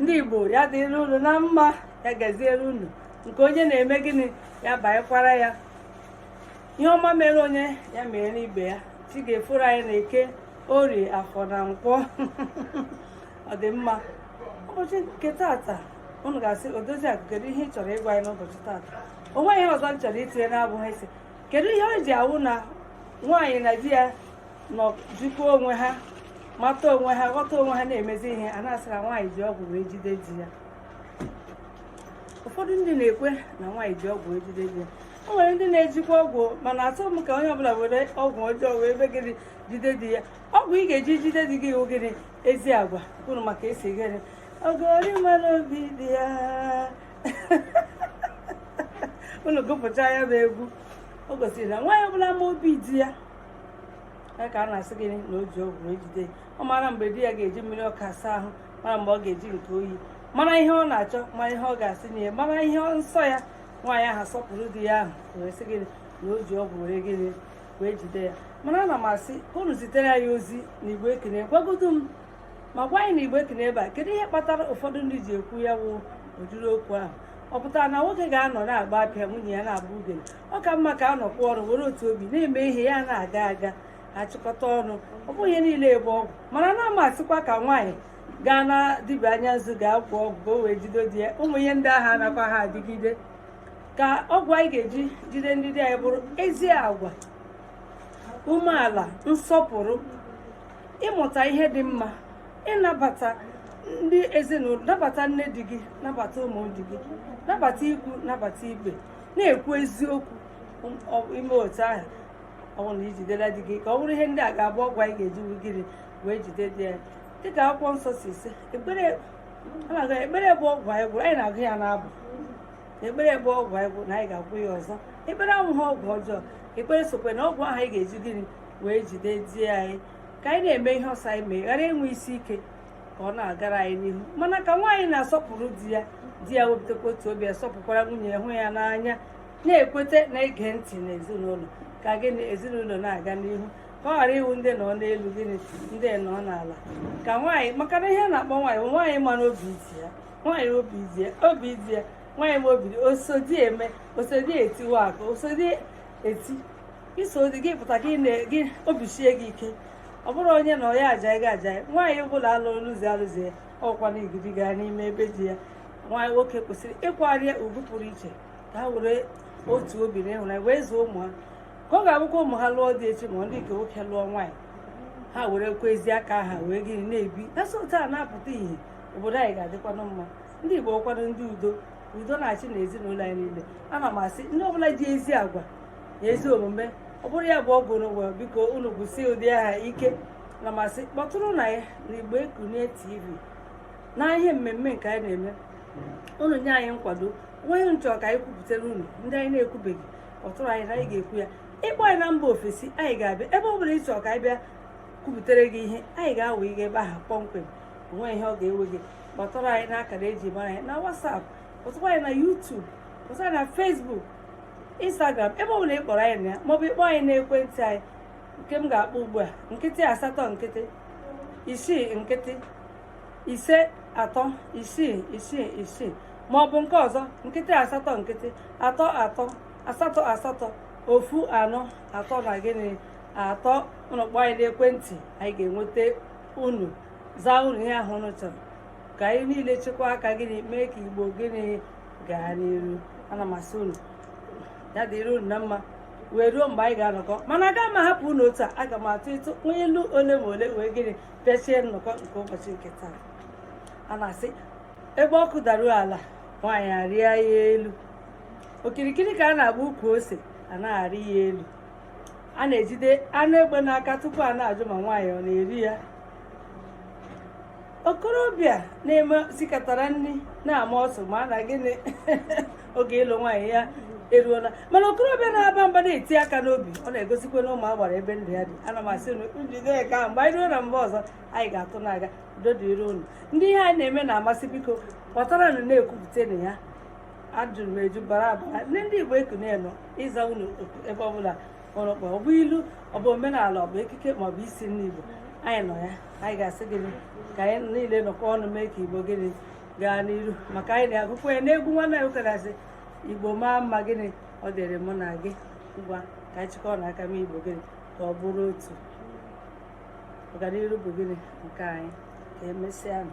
ndị igbo ya dịrị unu na mma ya gaziere unu nke onye na-eme gịnị ya banyekwara ya ihe ọma mere onye ya mere ibe ya chi ga-eforo anyị na eke orie afọ na nkwọ ọ dị mma ụbọchị nke tata unu ga-asị odozi akụ kedu ihe ị chọrọ ịgwa anyị n'ụbọchị tata o nweghị ihe ọzọ m chọrọ itinye na-abụghị ịsị kedu ihe o ji awụ na nwaanyị na di ya nọ jikwa onwe ha mata onwe ha ghọta onwe ha na-emezi ihe a na-asị na nwaanyị ji ọgwụ wee jide di ya ụfọdụ ndị na-ekwe na nwaanyị ji ọgwụ wee jide di ya o nwere ndị na-ejikwa ọgwụ mana achọghị m ka onye ọbụla were ọgwụ ọjọọ wee mee gịnị jide di ya ọgwụ ị ga-eji jide di gị wụ gịnị ezi agwa unu ma ka e si gịnị ogori mara obi di ya unu gụpụcha ya bụ egwu o gosiri na nwaanyị ọbụla ma obi di ya ka a na-asị gịnị na o ji ọgwụ wee jide ọ mara mgbe di ya ga-eji mmiri ọkụ asa ahụ mara mgbe ọ ga-eji nke oyi mara ihe ọ na-achọ mara ihe ọ ga-asị na ihe mara ihe nsọ ya nwaanyị ahụ asọpụrụ di ya ahụ wee sị gịnị na o ji ọgwụ were gịnị wee jide ya mana ana m asị ka unu zitere anyị ozi na igbe ekene gwagodu m ma gwa anyị na igbe ekene ebe a kedu ihe kpatara ụfọdụ ndị ji ekwu ya wụ ụdịrị okwu ahụ ọ pụtara na nwoke ga-anọ na-agba apịa nwunye ya na-agba ugene ọ ka mma ka a nọkọọ ọnụ were otu obi na-eme ihe ya na-aga aga a chịkọta ọnụ ọ bụghị ihe niile bụ ọgwụ mana anaha m asịkwa ka nwaanyị gaa na dibịa anya nzu gaa gwọọ ọgwụ ka o wee jide di ya ụmụ ihe ndị ahụ anakwaha adịgide ka ọgwụ anyị ga-eji jide ndị di anyị bụrụ ezi agwa umeala nsọpụrụ ịmụta ihe dị mma ịnabata ndị ezinụlọ nabata nne di gị nabata ụmụ di gị nabata ikwu nabata ibe na-ekwu eziokwu i mee otu ahụ ọ wụ na i jidela di gị ka ọ bụrụ ihe ndị a ga-abụ ọgwụ anyị ga-eji gịnị wee jide di ya dịka akwụkwọ nsọ si sị ekpere ekpere bụ ọgwụ anyị gwọrọ anyị na-agụ ya n'abụ ekpere bụ ọgwụ anyị gwọrọ na anyị ga-agwọ ya ọzọ ekpere awụghị ọgwụ ọjọọ ekpere sokwa na ọgwụ ahụ anyị ga-eji gịnị wee jide di anyị ka anyị na-eme ihe ọ sị anyị mee ghara inwe isi ike ka ọ na-agara anyị n'ihu mana ka nwaanyị na-asọpụrụ di ya di ya wepụtakwa otu obi ya sọpụkwara nwunye ya hụ ya n'anya na-ekweta na-ege ntị na ezinụlọ ka gịnị ezinụlọ na-aga n'ihu ka ọ ghara ịwụ ndị nọ n'elu gịnị ndị nọ n'ala ka nwaanyị maka na ihe a na-akpọ nwaanyị bụ nwaanyị mara obi di ya nwaanyị obi di ya obi di ya nwaanyị ma obi di osodi eme osodi etiwa aka osodi eti iso di gị pụta gị na gị obi sie gị ike ọ bụrụ onye na onye aja gị aja nwaanyị ọbụla alụrụ lụzi alụzi ya ọkwa na igidi gaa n'ime ebe di ya nwaanyị nwoke kwesịrị ịkwanyere ya ugwu pụrụ iche ka ha were otu obi na ịhụnanya wee zụọ ụmụ ha ka ọ ga-abụkwa ụmụ ha lụọ di echi ma ndị nke nwoke lụọ nwaanyị ha were kwezie aka ha wee gịnị na-ebi na so taa na-apụta ihe obodo anyị ga-adịkwanụ mma ndị Igbo kwanụ ndị udo udo na-achị na ezinụlọ anyị niile ana m asị ndị ọbụla ji ezi agwa na ezi omume ọ bụrụ ya bụ ọgwụ n'ụwa biko unu gwọsie ụdị ahụ ike ana m asị kpọtụrụnụ anyị na igbo ekunie tv na ihe mmemme nke anyị na-eme unu nye anyị nkwado o nwee ihe unu chọ ka anyị kwupụtara unu ndị anyị na-ekwubeghị kpọtụrụ anyị na anyị ga-ekwu ya ị kpọọ anyị na mba ofesi anyị ga-abịa ebe ọ bụla ị chọ ka anyị bịa kwupụtara gị ihe anyị ga-awa gị ebe ahụ kpọmkwem onweghị ihe ọ ga-ewe gị kpọtụrụ anyị n'akara eji mara anyị na WhatsApp kpọtụkwa anyị na YouTube kpọtụkwa anyị na Facebook Instagram ebe ọ bụla ị kpọrọ anyị na ya maọbụ ị kpọọ anyị n'ekwentị anyị nke m ga-akpọ ugbu a nkịtị asatọ nkịtị isii nkịtị ise atọ isii isii isii ma ọ bụ nke ọzọ nkịtị asatọ nkịtị atọ atọ asatọ asatọ ofu anọ atọ na gịnị atọ unu kpọọ anyị n'ekwentị anyị ga-enweta unu zaa unu ihe ahụ unu chọrọ ka anyị niile chịkọọ aka gịnị mee ka igbo gịnị gaa n'iru ana m asị unu ya dịrị unu na mma wee ruo mgbe anyị ga-anọkọ mana aga m ahapụ unu otu a aga m atụtụ unu ilu ole ma ole wee gịnị pịachie nnọkọ nke ụbọchị nke taa a na-asị ebe nkwụ daruo ala nwaanyị arịa ya elu okirikiri ka a na-agba ukwu ose a na-arị ya elu a na-ejide anụ egbe n'aka tupu a na-ajụ ma nwaanyị ọ na-eri ya okorobịa na-eme sikatara nri na-ama ọsụ mara na gịnị oge ịlụ nwaanyị ya eruola mana okorobịa na-aba mba na-eti aka n'obi ọ na-egosikwanụ ụmụ agbara ebe ndụ ya dị ana m asị unu jide nke ahụ mgbe anyị ruo na mba ọzọ anyị ga-atụ na-aga udo dịrị unu ndị ihe anyị na-eme na-amasị biko kpọtara nụ na-ekwupụta na ya ejuru m eju bara abara na ndị igbo ekunie nọ ịza unu ebe ọbụla unu kpọ ọ bụ ilu ọ bụ omenala ọ bụ ekike ma ọ bụ isi nri Igbo anyị nọ ya anyị ga-asị gịnị ka anyị niile nọkọ ọnụ mee ka Igbo gịnị gaa n'iru maka anyị na-agụkwa ya n'egwu nwanne anyị ụkarasị Igbo maa mma gịnị ọ dịrị mụ na gị ngwa ka anyị chịkọọ nụ aka mee Igbo gịnị ka ọ bụrụ otu ọganiru bụ gịnị nke anyị ka emesịa nụ